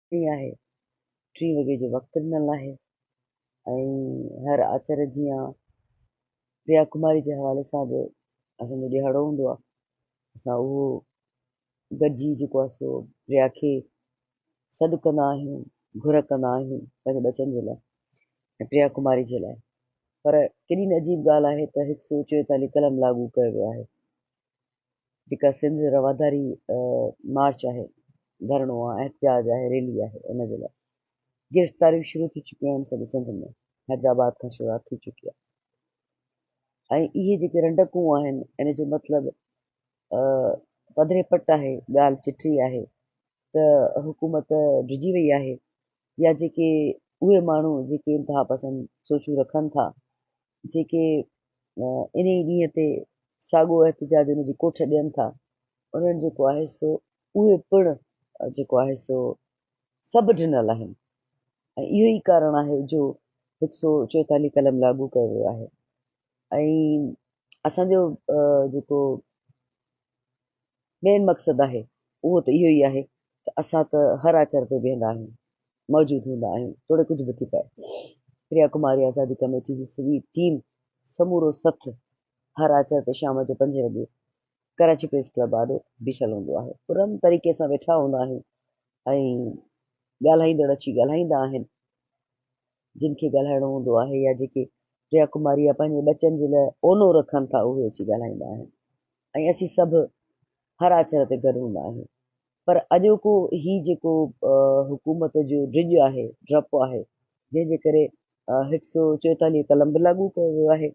ڏينهن آهي، ٽين وڳي جو وقت ڏنل آهي ۽ هر آچر جيان پريا ڪماري جي حوالي سان به اسان جو ڏيهاڙو هوندو آهي، اسان اهو گڏجي جيڪو آهي سو پريا کي سڏ ڪندا آهيون، گهر ڪندا آهيون پنهنجي ٻچن جي لاء ۽ پريا ڪماري جي لاء پر ڪيڏي نه عجيب ڳالهه آهي ته هڪ سؤ چوئيتاليهه قلم لاڳو ڪيو ويو آهي جيڪا سنڌ رواداري مارچ آهي، ڌرڻو آهي، احتجاج آهي، ريلي آهي ان جي لاء گرفتاريون شروع ٿي چڪيون آهن سڄي سنڌ ۾ حيدرآباد کان شروعات ٿي چڪي آهي ۽ اهي جيڪي رنڊڪون آهن ان جو مطلب پڌري پٽ آهي ڳالهه چٽي آهي ته حڪومت ڊڄي وئي آهي يا جيڪي اهي ماڻهو جيڪي انتها پسند سوچون رکن ٿا جيڪي انهي ڏينهن تي ساڳو احتجاج ان جي ڪوٺ ڏين ٿا، انهن جيڪو آهي سو اهي پڻ جيڪو آهي سو سڀ ڊنل آهن ۽ اهو ئي ڪارڻ آهي جو هڪ سو چوئيتالهه قلم لاڳو ڪيو ويو آهي ۽ اسان جو جيڪو مين مقصد آهي اهو ته اهو ئي آهي ته اسان ته هر آچر تي بيهندا آهيون، موجود هوندا آهيون توڙي ڪجهه به ٿي پئي. پريا ڪماري آزادي ڪميٽي جي سڄي ٽيم سمورو سٿ هر آچر تي شام جو پنجين وڳي ڪراچي پريس ڪلب آڏو بيٺل هوندو آهي. پرامن طريقي سان ويٺا هوندا آهيون ۽ ڳالهائيندڙ اچي ڳالهائيندا آهن جن کي ڳالهائڻو هوندو آهي يا جيڪي پريا ڪماري يا پنهنجي ٻچن جي لاء اونو رکن ٿا اهي اچي ڳالهائيندا آهن. ۽ اسين سڀ هر آچر تي گڏ هوندا آهيون پر اڄوڪو هي جيڪو حڪومت جو ڊڄ آهي ڊپ آهي جنهن جي ڪري هڪ سؤ چوئيتاليهه قلم به لاڳو ڪيو ويو آهي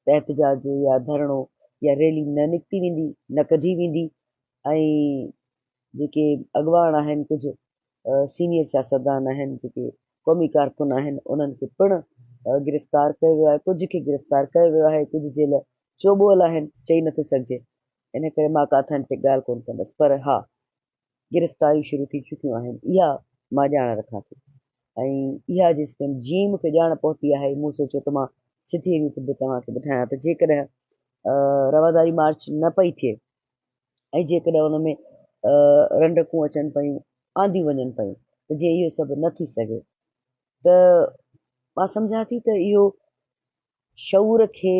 ته احتجاج يا ڌرڻو يا ريلي نه نڪتي ويندي نه ڪڍي ويندي ۽ جيڪي اڳواڻ آهن ڪجهه سينيئر سياستدان آهن جيڪي قومي ڪارڪن آهن انهن کي پڻ گرفتار ڪيو ويو آهي ڪجهه کي گرفتار ڪيو ويو آهي ڪجهه جيل چوٻول آهن چئي نٿو سگهجي ان ڪري مان ڪا ٿن تي ڳالهه ڪون ڪندس پر ها گرفتاريون شروع ٿي چڪيون آهن اها مان ڄاڻ رکان ٿي ۽ اها جيستائين جيئن مونکي ڄاڻ پهتي آهي مون سوچيو ته مان سڌي ريت به توهان کي ٻڌايان ته جيڪڏهن رواداري مارچ نه پئي ٿئي ۽ جيڪڏهن ان ۾ رنڊڪون اچن پيون، آنديون وڃن پيون ته جي اهو سڀ نه ٿي سگهي ته مان سمجهان ٿي ته اهو شعور کي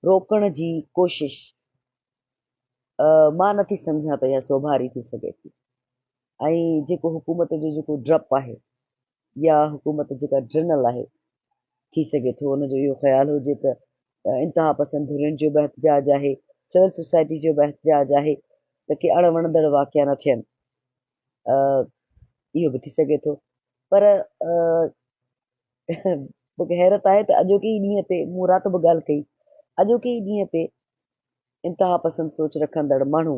روڪڻ جي ڪوشش مان نه ٿي سمجهان ته اها سوڀاري ٿي سگهي ٿي ۽ جيڪو حڪومت جو جيڪو ڊپ آهي يا حڪومت جيڪا ڊرنل آهي، ٿي سگهي ٿو ان جو اهو خيال هجي ته انتهاپسند ڌرين جو به احتجاج آهي، سول سوسائٽي جو به احتجاج آهي ته ڪي اڻ وڻندڙ واقعا نه ٿين. اهو به ٿي سگهي ٿو پر مونکي حيرت آهي ته اڄوڪي ئي ڏينهن تي مون رات به ڳالهه ڪئي اڄوڪي ئي ڏينهن تي انتهاپسند سوچ رکندڙ ماڻهو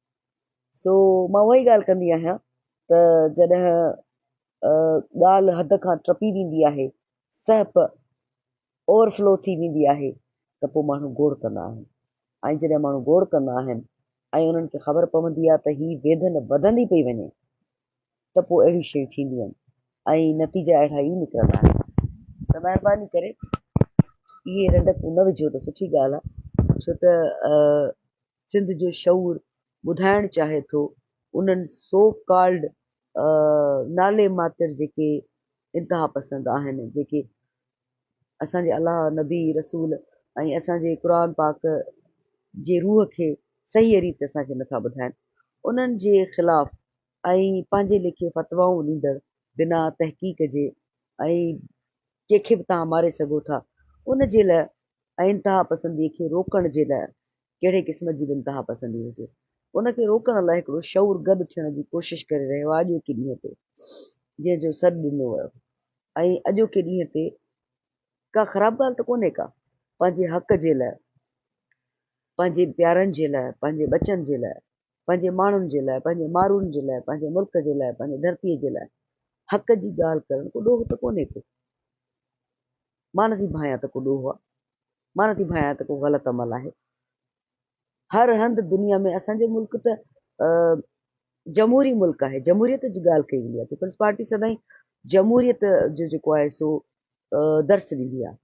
سو مان اها ئي ڳالهه ڪندي آهيان ته جڏهن ڳالهه حد کان ٽپي ويندي آهي، سهپ اوور فلو ٿي ويندي آهي ته پوء ماڻهو گوڙ ڪندا آهن ۽ جڏهن ماڻهو گوڙ ڪندا آهن ۽ انهن کي خبر پوندي آهي ته هي ويڌن وڌندي پئي وڃي ته پوء اهڙيون شيون ٿينديون آهن ۽ نتيجا اهڙا ئي نڪرندا آهن ته مهرباني ڪري اهي رنڊڪون نه وجهو ته سٺي ڳالهه آهي ڇو ته سنڌ جو شعور ٻڌائڻ چاهي ٿو انهن سو ڪالڊ نالي ماتر جيڪي انتها پسند آهن جيڪي اسان جي الله نبي رسول ۽ اسان جي قرآن پاڪ جي روح کي صحيح ريت اسان کي نٿا ٻڌائن انهن جي خلاف ۽ پنهنجي ليکي فتوائون ڏيندڙ بنا تحقيق جي ۽ ڪنهن کي به توهان ماري سگهو ٿا ان جي لاء ۽ انتها پسندي کي روڪڻ جي لاء ڪهڙي قسم جي به انتهاپسندي هجي، ان کي روڪڻ لاء هڪڙو شعور گڏ ٿيڻ جي ڪوشش ڪري رهيو آهي اڄوڪي ڏينهن تي جنهن جو سڏ ڏنو ويو ۽ اڄوڪي ڏينهن تي ڪا خراب ڳالهه ته ڪونهي ڪا پنهنجي حق جي لاء پنهنجي پيارن جي لاء پنهنجي ٻچن جي لاء پنهنجي ماڻهن جي لاء پنهنجي مارون جي لاء پنهنجي ملڪ جي لاء پنهنجي ڌرتيء جي لاء حق جي ڳالهه ڪرڻ ڪو ڏوهه ته ڪونهي ڪو مان نه ٿي ڀانئيان ته ڪو ڏوهه آ، مان نه ٿي ڀانئيان ته ڪو غلط عمل آهي. هر هنڌ دنيا ۾ اسان جو ملڪ ته جمهوري ملڪ آهي، جمهوريت جي ڳالهه ڪئي ويندي آهي، پيپلز پارٽي سدائين جمهوريت جو جيڪو آهي سو درس ڏيندي آهي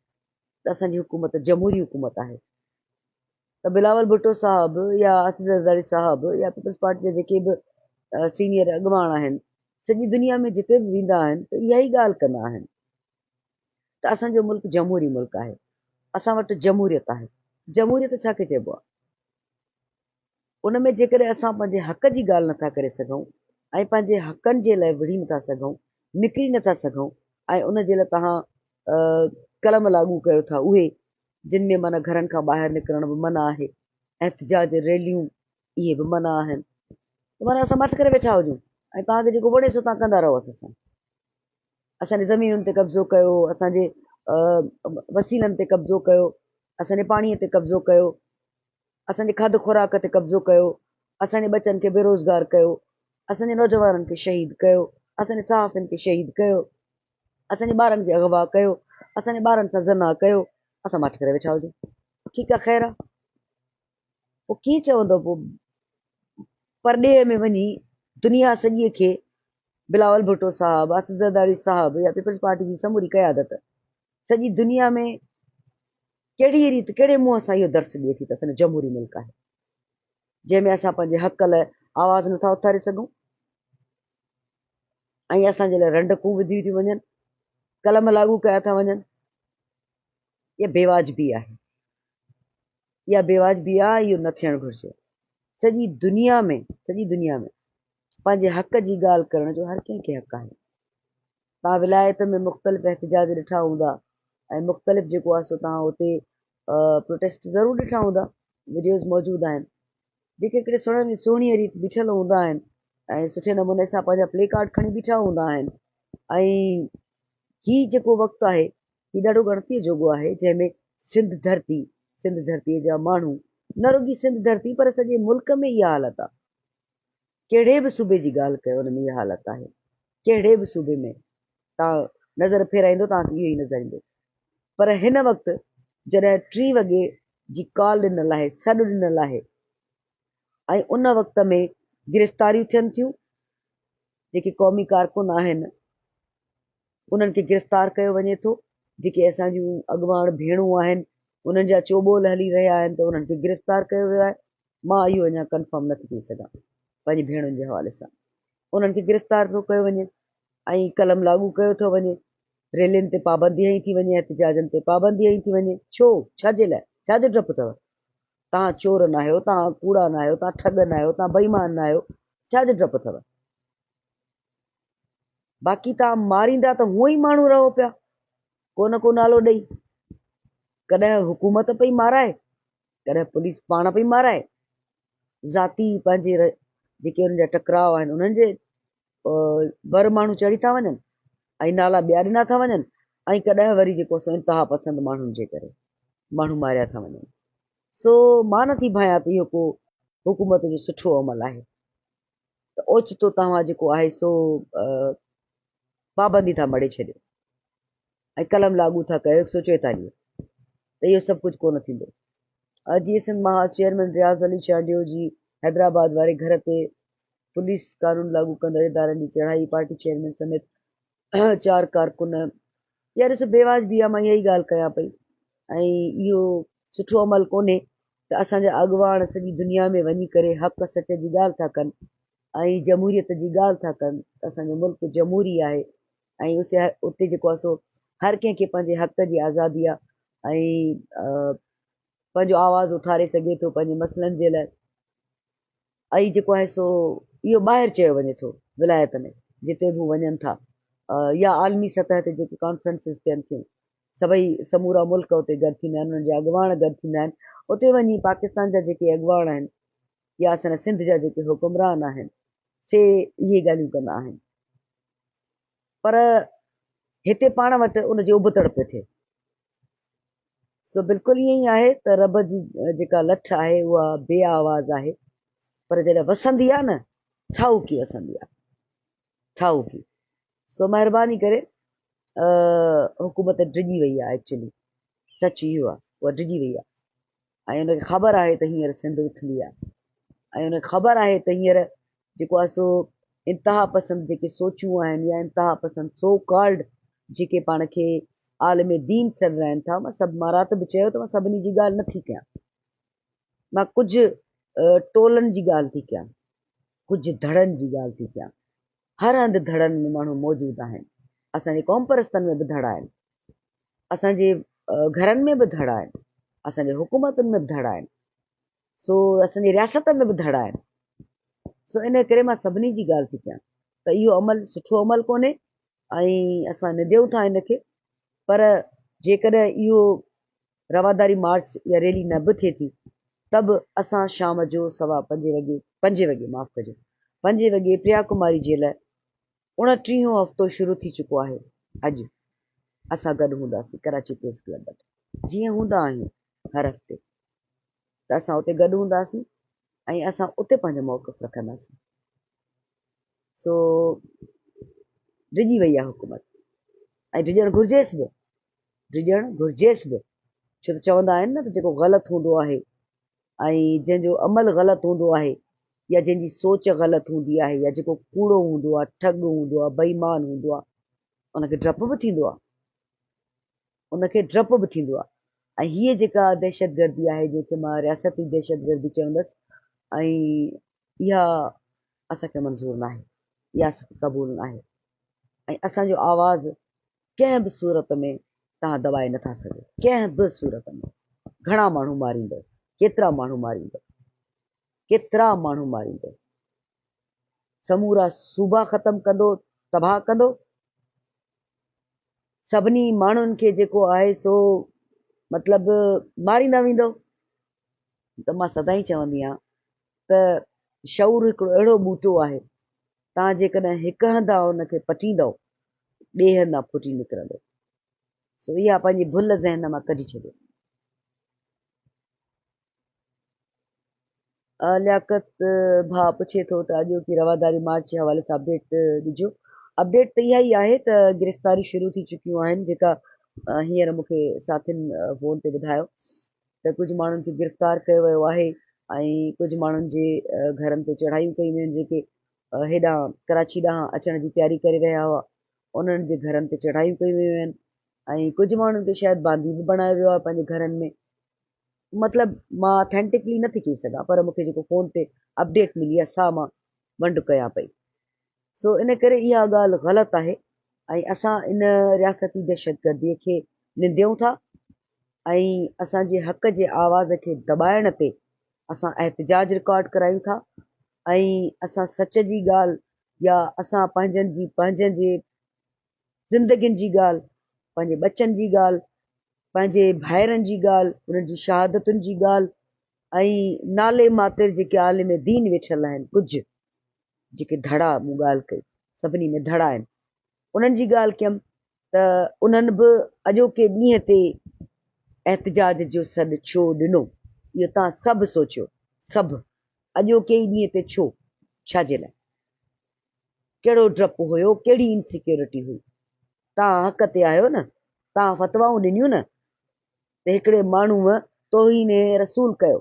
ته اسان جي حڪومت جمهوري حڪومت آهي. ته بلاول ڀٽو صاحب يا اسد زرداري صاحب يا پيپلز پارٽي جا جيڪي به سينيئر اڳواڻ آهن سڄي دنيا ۾ جتي به ويندا آهن ته اها ئي ڳالهه ڪندا آهن ته اسان جو ملڪ جمهوري ملڪ آهي، اسان وٽ جمهوريت آهي، جمهوريت ڇا کي چئبو آهي؟ ان ۾ جيڪڏهن اسان پنهنجي حق جي ڳالهه نٿا ڪري سگهون ۽ پنهنجي حقن جي لاء وڙهي نٿا سگهون، نڪري نٿا سگهون ۽ ان جي لاء توهان قلم لاڳو ڪيو ٿا اهي جن ۾ معنيٰ گهرن کان ٻاهر نڪرڻ به منع آهي، احتجاج ريليون اهي به منع آهن، معنيٰ اسان مٺ ڪري ويٺا هجون ۽ توهان کي جيڪو وڻي سو توهان ڪندا رهو اسان سان. اسان جي زمينن تي قبضو ڪيو، اسان جي وسيلن تي قبضو ڪيو، اسان جي پاڻيء تي قبضو ڪيو، اسان جي کاڌ خوراڪ تي قبضو ڪيو، اسان جي ٻچن کي بيروزگار ڪيو، اسان جي نوجوانن کي شهيد ڪيو، اسان جي صحافين کي شهيد ڪيو، اسان جي ٻارن کي اغوا ڪيو، اسان جي ٻارن سان زنا ڪيو، اسان ماٺ ڪري ويٺا هجون، ٺيڪ آ خير آ. پوء ڪيئن چوندو پوء پرڏيهه ۾ وڃي دنيا سڄيء کي بلاول ڀٽو صاحب، آصف زرداري صاحب يا پيپلز پارٽي جي سموري قيادت سڄي دنيا ۾ ڪهڙيء ريت ڪهڙي منهن سان اهو درس ڏئي ٿي ته اسان جو جمهوري ملڪ آهي جنهن ۾ اسان پنهنجي حق لاء آواز نٿا اٿاري سگهون ۽ اسان جي لاء رنڊڪون وڌيون ٿيون وڃن قلم لاڳو ڪيا ٿا وڃن اها بيواجبي آهي، اها بيواجبي آهي، اهو نه ٿيڻ گهرجي. سڄي دنيا ۾ سڄي دنيا ۾ پنهنجي حق جي ڳالهه ڪرڻ جو هر ڪنهن کي حق آهي. تان ولايت ۾ مختلف احتجاج ڏٺا هوندا ۽ مختلف جيڪو آهي سو تان اتي پروٽيسٽ ضرور ڏٺا هوندا، وڊيوز موجود آهن، جيڪي هڪڙي سهڻي سهڻيء ريت بيٺل هوندا آهن ۽ سٺي نموني سان پنهنجا پلي ڪارڊ کڻي بيٺا هوندا آهن ۽ هي جيڪو وقت آهي هي ڏاڍو ڳڻتيء جوڳو آهي، جنهن ۾ سنڌ ڌرتي، سنڌ ڌرتيء جا ماڻهو، نه رڳي سنڌ ڌرتي پر سڄي ملڪ ۾ اها حالت آهي. ڪهڙي به صوبي جي ڳالهه ڪيو ان ۾ اها حالت آهي. ڪهڙي به صوبي ۾ توهان نظر ڦيرائيندو توهان کي اهو ئي نظر ايندو. پر هن وقت جڏهن ٽي وڳي جي ڪال ڏنل آهي، سڏ ڏنل آهي ۽ ان وقت ۾ گرفتاريون ٿين ٿيون، جيڪي قومي ڪارڪن آهن انهن کي گرفتار ڪيو وڃي ٿو، جيڪي اسان جون اڳواڻ ڀيڻون آهن انهن جا چوٻول هلي رهيا آهن ته انهن کي گرفتار ڪيو ويو آهي، مان اهو اڃا ڪنفرم نه ٿي ڪري سگهان پنهنجي ڀيڻن جي حوالي سان انهن کي گرفتار ٿو ڪيو وڃي ۽ قلم لاڳو ڪيو ٿو وڃي، ريلين تي پابندي هنئي ٿي وڃي، احتجاجن تي پابندي هنئي ٿي وڃي، ڇو؟ ڇا جي لاء؟ ڇا جو ڊپ اٿو؟ توهان چور ناهيو، توهان ڪوڙا ناهيو، توهان ٺڳ ناهيو، توهان بيمان ناهيو، ڇا جو ڊپ اٿئو؟ باقي توهان ماريندا ته هونئن ئي ماڻهو رهو پيا ڪو نه ڪو نالو ڏئي. ڪڏهن حڪومت پئي مارائي، ڪڏهن پوليس پاڻ پئي مارائي، ذاتي پنهنجي جيڪي ان جا ٽڪراء آهن انهن جي ور ماڻهو چڙهي ٿا وڃن ۽ نالا ٻيا ڏنا ٿا وڃن ۽ ڪڏهن وري جيڪو سو انتها پسند ماڻهن جي ڪري ماڻهو ماريا ٿا وڃن سو مان نه ٿي ڀانيان ته اهو ڪو حڪومت جو سٺو عمل آهي ته اوچتو توهان جيڪو آهي سو پابندي ٿا مڙي ڇڏيو ۽ قلم لاڳو ٿا ڪيو هڪ سو چويتاليهه ته اهو سڀ ڪجهه ڪونه ٿيندو جي سنڌ مهاز چيئرمين رياض علي چانڊيو جي حيدرآباد واري گهر تي پوليس قانون لاڳو ڪندڙ ادارن جي چڙهائي، پارٽي چيئرمين سميت چار ڪارڪن يار ڏسو بيواجبي آ مان اها ئي ڳالهه ڪيان پئي ۽ اهو سٺو عمل ڪونهي ته اسان جا اڳواڻ سڄي دنيا ۾ وڃي ڪري حق سچ جي ڳالهه ٿا ڪن ۽ جمهوريت جي ڳالهه ٿا ڪن اسان جو ملڪ جمهوري آهي ۽ اسي اتي جيڪو آهي سو هر ڪنهن کي پنهنجي حق جي آزادي آ ۽ پنهنجو آواز اٿاري سگهي ٿو پنهنجي مسئلن جي لاء اي جيڪو آهي سو اهو ٻاهر چيو وڃي ٿو ولايت ۾ جتي به هو وڃن ٿا يا عالمي سطح تي جيڪي ڪانفرنسز ٿين ٿيون سڀئي سمورا ملڪ اتي گڏ ٿيندا آهن انهن جا اڳواڻ گڏ ٿيندا آهن اتي وڃي پاڪستان جا جيڪي اڳواڻ آهن يا اسان سنڌ جا جيڪي حڪمران آهن سي اهي ڳالهيون ڪندا آهن پر هتي پاڻ وٽ ان جي ابتڙ پئي ٿئي. سو بلڪل ائين ئي آهي ته رب جي جيڪا لٺ آهي اها بي آواز آهي پر جڏهن وسندي آهي نه ٺاهوڪي وسندي آهي ٺاهوڪي سو مهرباني ڪري حڪومت ڊڄي وئي آهي ايڪچولي سچ اهو آهي اها ڊڄي وئي آهي. ۽ ان کي خبر آهي ته هينئر سنڌ اٿندي آهي ۽ ان کي خبر آهي ته هينئر جيڪو آهي سو انتها پسند جيڪي سوچون آهن يا انتها پسند سو ڪالڊ جيڪي پاڻ کي عالم دين سڏرائن ٿا مان سڀ مان رات به چيو ته مان سڀني جي ڳالهه نه ٿي ڪيان مان ڪجهه ٽولن جي ڳالهه ٿي ڪيان ڪجهه ڌڙن جي ڳالهه ٿي ڪيان هر هنڌ ڌڙن ۾ ماڻهو موجود آهن. اسان جي قومپرستن ۾ به ڌڙا آهن. اسان جي گهرن ۾ به ڌڙا آهن. اسان جي حڪومتن ۾ به ڌڙا آهن. سو اسان جي رياست ۾ به ڌڙا آهن. سو ان ڪري مان سڀني جي ڳالهه ٿي ڪيان ته اهو عمل سٺو عمل ڪونهي ۽ اسان ننديون ٿا ان کي پر جيڪڏهن اهو رواداري مارچ يا ريلي نه به ٿئي ٿي ته به اسان شام جو سوا پنجين وڳي پنجين وڳي معاف ڪجو پنجين وڳي پريا ڪماري جي لاء اڻٽيهون هفتو شروع ٿي چڪو آهي اڄ اسان گڏ هونداسين ڪراچي پريس ڪلب وٽ جيئن هوندا آهيون هر هفتي ته اسان اتي گڏ هونداسين ۽ اسان اتي پنهنجو موقف رکنداسين سو ڊڄي وئي آهي حڪومت ۽ ڊڄڻ گهرجيس به ڊڄڻ گهرجيس به، ڇو ته چوندا آهن نه ته جيڪو غلط هوندو آهي ۽ جنهن جو عمل غلط هوندو آهي يا جنهن جي سوچ غلط هوندي آهي يا جيڪو ڪوڙو هوندو آهي، ٺڳ هوندو آهي، بيمان هوندو آهي، ان کي ڊپ به ٿيندو آهي. ان کي ڊپ به ٿيندو آهي ۽ هيء جيڪا دهشتگردي آهي جنهن کي مان رياستي دهشتگردي چوندس ۽ اها اسان کي منظور ناهي، اها اسان کي قبول ناهي ۽ اسان جو آواز ڪنهن به صورت ۾ توهان دٻائي نٿا سگهو، ڪنهن به صورت ۾ گهڻا ماڻهو ماريندؤ، ڪيترا ماڻهو ماريندؤ، ڪيترا ماڻهو ماريندؤ، سمورا صوبا ختم ڪندو، تباهه ڪندو، سڀني ماڻهن کي جيڪو آهي سو مطلب ماريندا ويندؤ، ته مان سدائين چوندي آهيان ته شعور هڪڙو اهڙو ٻوٽو آهي، توهان جيڪڏهن هڪ هنڌان ان کي پٽيندؤ، ٻئي هنڌان ڦٽي نڪرندو. سو اها پنهنجي ڀل ذهن مان ڪڍي ڇڏيو. لياقت ڀاء پڇي ٿو ته اڄوڪي رواداري مارچ جي حوالي سان اپڊيٽ ڏجو. اپڊيٽ ته اها ئي آهي ته گرفتاريون شروع ٿي چڪيون آهن، جيڪا هينئر مون کي ساٿين فون تي ٻڌايو. ته ڪجهه ماڻهن کي گرفتار ڪيو ويو آهي ۽ ڪجهه ماڻهن جي گهرن تي چڙهايون ڪيون ويون جيڪي هيڏانهن ڪراچي ڏانهن اچڻ جي تياري ڪري رهيا هئا انهن جي گهرن تي چڙهايون ڪيون ويون آهن ۽ ڪجهه ماڻهن کي شايد باندي به بڻايو ويو آهي پنهنجي گهرن ۾ مطلب مان اٿينٽڪلي نٿي چئي سگهان پر مونکي جيڪو فون تي اپڊيٽ ملي آهي سا مان ونڊ ڪيان پئي سو ان ڪري اها ڳالهه غلط آهي ۽ اسان ان رياستي دهشتگردي کي ننديون ٿا ۽ اسان جي حق جي آواز کي دٻائڻ تي اسان احتجاج رڪارڊ ڪرايون ٿا ۽ اسان سچ جي ڳالهه يا اسان پنهنجن جي پنهنجن جي زندگين جي ڳالهه، پنهنجي ٻچن جي ڳالهه، پنهنجي ڀائرن جي ڳالهه، انهن جي شهادتن جي ڳالهه ۽ نالي ماتر جيڪي عالم دين ويٺل آهن ڪجهه جيڪي ڌڙا مون ڳالهه ڪئي سڀني ۾ ڌڙا آهن انهن جي ڳالهه ڪيم ته انهن به اڄوڪي ڏينهن تي احتجاج جو سڏ ڇو ڏنو اهو تان سڀ سوچيو سڀ اڄوڪي ئي ڏينهن تي ڇو ڇا جي لاء ڪهڙو ڊپ هيو، ڪهڙي انسيڪيورٽي هئي. توهان حق تي آهيو نه، توهان فتوائون ڏنيون نه ته هڪڙي ماڻهوء توهين رسول ڪيو،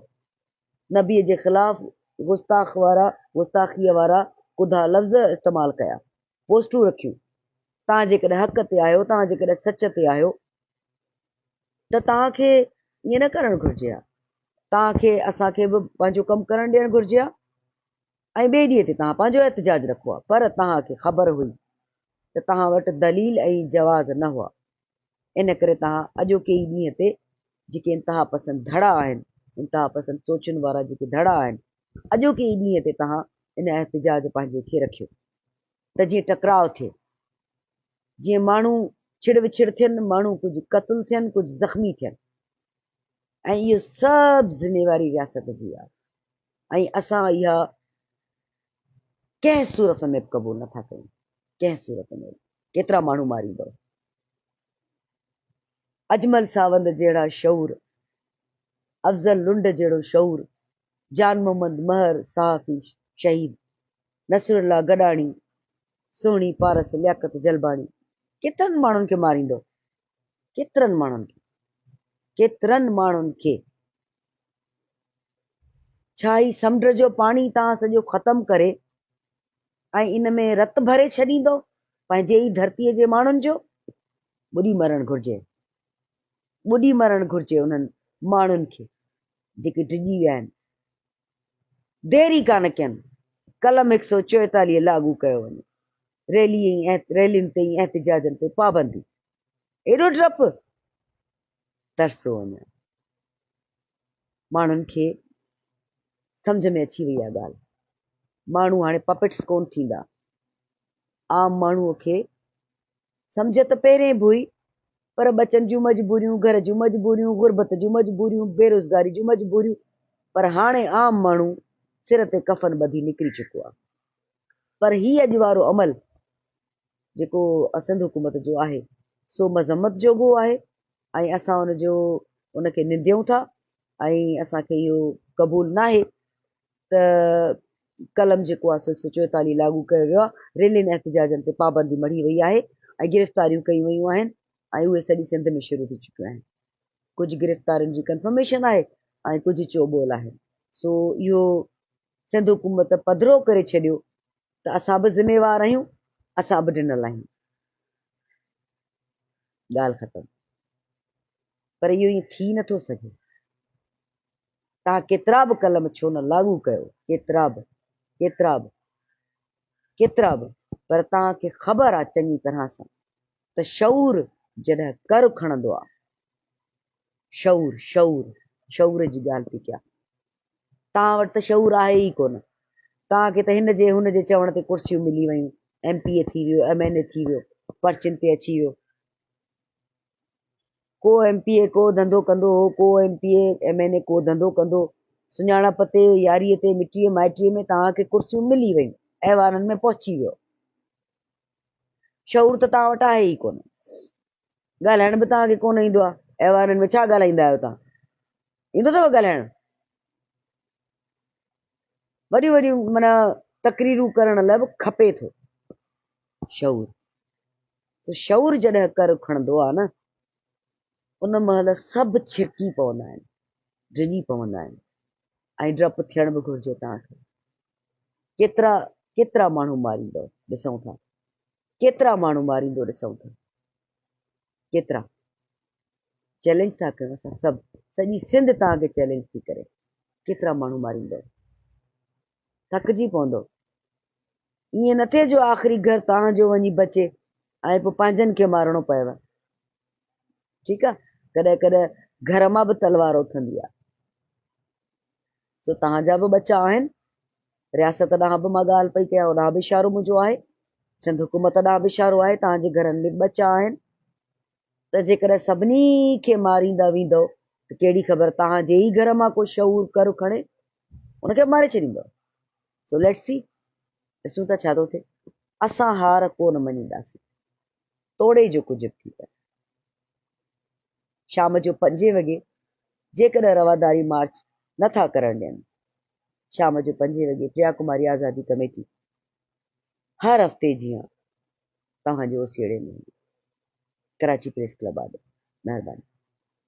نبيء جي خلاف گستاخ وارا گستاخيء وارا ڪڌا لفظ استعمال ڪيا، پوسٽون رکيون. توهان جيڪڏهن حق تي آهيو، توهان جيڪڏهن سچ تي آهيو ته توهان کي ائين نه ڪرڻ گهرجي ها، توهان کي اسان کي به پنهنجو ڪم ڪرڻ ڏيڻ گهرجي ها. ۽ ٻئي ڏينهن تي توهان پنهنجو احتجاج رکو ها پر توهان کي خبر هئي ته توهان وٽ دليل ۽ جواز نه هئا ان ڪري توهان اڄوڪي ئي ڏينهن تي جيڪي انتهاپسند ڌڙا آهن انتهاپسند سوچن وارا جيڪي ڌڙا آهن اڄوڪي ئي ڏينهن تي توهان ان احتجاج پنهنجي کي رکيو ته جيئن ٽڪراء ٿئي جيئن ماڻهو ڇڙ وڇڙ ٿين ماڻهو ڪجهه قتل ٿين ڪجهه زخمي ٿين ۽ اهو سڀ ذميواري رياست جي آهي ۽ اسان اها ڪنهن صورت ۾ به قبول نٿا ڪيون، ڪنهن صورت ۾ به، ڪيترا ماڻهو ماريندؤ. اجمل ساوند جهڙا شعور، افضل لنڊ جهڙو شعور، جان محمد مهر صحافي شهيد، نصرالله گڏاڻي، سهڻي پارس، لياقت جلباڻي ڪيترن ماڻهن کي ماريندؤ، ڪيترن ماڻهن کي، ڪيترن ماڻهن کي. ڇا هي سمنڊ جو پاڻي تان سڄو ختم ڪري ۽ ان ۾ رت ڀري ڇڏيندو، پنهنجي ئي ڌرتيء جي ماڻهن جو؟ ٻڏي مرڻ گهرجي، ٻڏي مرڻ گهرجي انهن ماڻهن کي، جيڪي ڊڄي ويا آهن. ديري ڪانه ڪين، قلم هڪ سؤ چوئيتاليهه لاڳو ڪيو وڃي، ريلي ۽ ريلين تي ۽ احتجاجن تي پابندي، ايڏو ڊپ؟ ترسو وڃان. ماڻهن کي سمجهه ۾ اچي وئي آ ڳالهه، ماڻهو هاڻي پپٽس ڪون ٿيندا، عام ماڻهوء کي سمجهه ته پهرين به هئي، پر ٻچن جون مجبوريون، گهر جون مجبوريون، غربت جون مجبوريون، بيروزگاري جون مجبوريون، پر هاڻي عام ماڻهو سر تي ڪفن ٻڌي نڪري چڪو آهي. پر هي اڄ وارو عمل جيڪو سنڌ حڪومت جو آهي، سو مذمت جوڳو آهي ۽ اسان ان جو ان کي ننديون ٿا ۽ اسان کي اهو قبول ناهي ته قلم جيڪو آهي سو هڪ سؤ چوئيتاليهه لاڳو ڪيو ويو آهي، ريلين احتجاجن تي پابندي مڙهي وئي آهي ۽ گرفتاريون ڪيون ويون آهن ۽ اهي سڄي سنڌ ۾ شروع ٿي چڪيون آهن. ڪجهه گرفتارين جي ڪنفرميشن آهي ۽ ڪجهه چوٻول آهي. سو اهو سنڌ حڪومت پڌرو ڪري ڇڏيو ته اسان به ذميوار آهيون، اسان به ڊنل آهيون. ڳالهه ختم. پر اهو ائين ٿي نٿو سگهي. تان ڪيترا به قلم ڇو نه لاڳو ڪيو، ڪيترا به، ڪيترا به، ڪيترا به، پر توهان کي خبر آ چڱي طرح سان ته شعور جڏهن ڪر کڻندو آ، شعور، شعور، شعور جي ڳالهه پي ڪيان، توهان وٽ ته شعور آهي ئي ڪونه، توهان کي ته هن جي هن جي چوڻ تي ڪرسيون ملي ويون، ايم پي اي ٿي ويو، ايم اين اي ٿي ويو، پرچين تي اچي ويو. ڪو ايم پي اي ڪو ڌنڌو ڪندو هو، ڪو M P A, M N A ڪو ڌنڌو ڪندو. سڃاڻپ تي، ياريء تي، مٽيء مائٽيء ۾ توهان کي ڪرسيون ملي ويون، ايوانن ۾ پهچي ويو. شعور ته توهان وٽ آهي ئي ڪونه. ڳالهائڻ به توهان کي ڪونه ايندو آهي. ايوانن ۾ ڇا ڳالهائيندا آهيو توهان؟ ايندو اٿئو ڳالهائڻ؟ وڏيون وڏيون معنيٰ تقريرون ڪرڻ لاء به کپي ٿو شعور. سو شعور جڏهن ڪر کڻندو آهي نه، ان مهل سڀ ڇڪي پوندا آهن، ڊڄي پوندا آهن ۽ ڊپ ٿيڻ به گهرجي توهان کي. ڪيترا ڪيترا ماڻهو ماريندو ڏسون ٿا، ڪيترا ماڻهو ماريندو ڏسون ٿا، ڪيترا. چئلينج ٿا ڪيون اسان سڀ، سڄي سنڌ توهان کي چئلينج ٿي ڪري، ڪيترا ماڻهو ماريندو. ٿڪجي پوندؤ. ائين نه ٿئي جو آخري گهر توهان جو وڃي بچي ۽ پوء پنهنجن کي مارڻو پئي ون. ٺيڪ آ، ڪڏهن ڪڏهن گهر مان به تلوار اٿندي آ. سو توهان جا به ٻچا آهن. رياست ڏانهن به مان ڳالهه پئي ڪيان، اوڏانهن به اشارو منهنجو آهي. سنڌ حڪومت ڏانهن به اشارو آهي، توهان جي گهرن ۾ به ٻچا آهن. ته جيڪڏهن سڀني کي ماريندا ويندؤ ته ڪهڙي خبر توهان جي ئي گهر مان ڪو شعور ڪر کڻي. ان کي به ماري ڇڏيندو. سو ليٽس سي، ڏسون ٿا ڇا ٿو ٿئي. اسان هار ڪو نه مڃينداسين، توڙي جو ڪجهه به ٿي پوي. شام جو پنجين وڳي جيڪڏهن رواداري مارچ نه ٿا ڪرڻ ڏين. شام جو پنجين وڳي پريا ڪماري آزادي ڪميٽي هر هفتي جيان توهان جي اوسيئڙي ۾ هوندي. ڪراچي پريس ڪلب آڏو. مهرباني.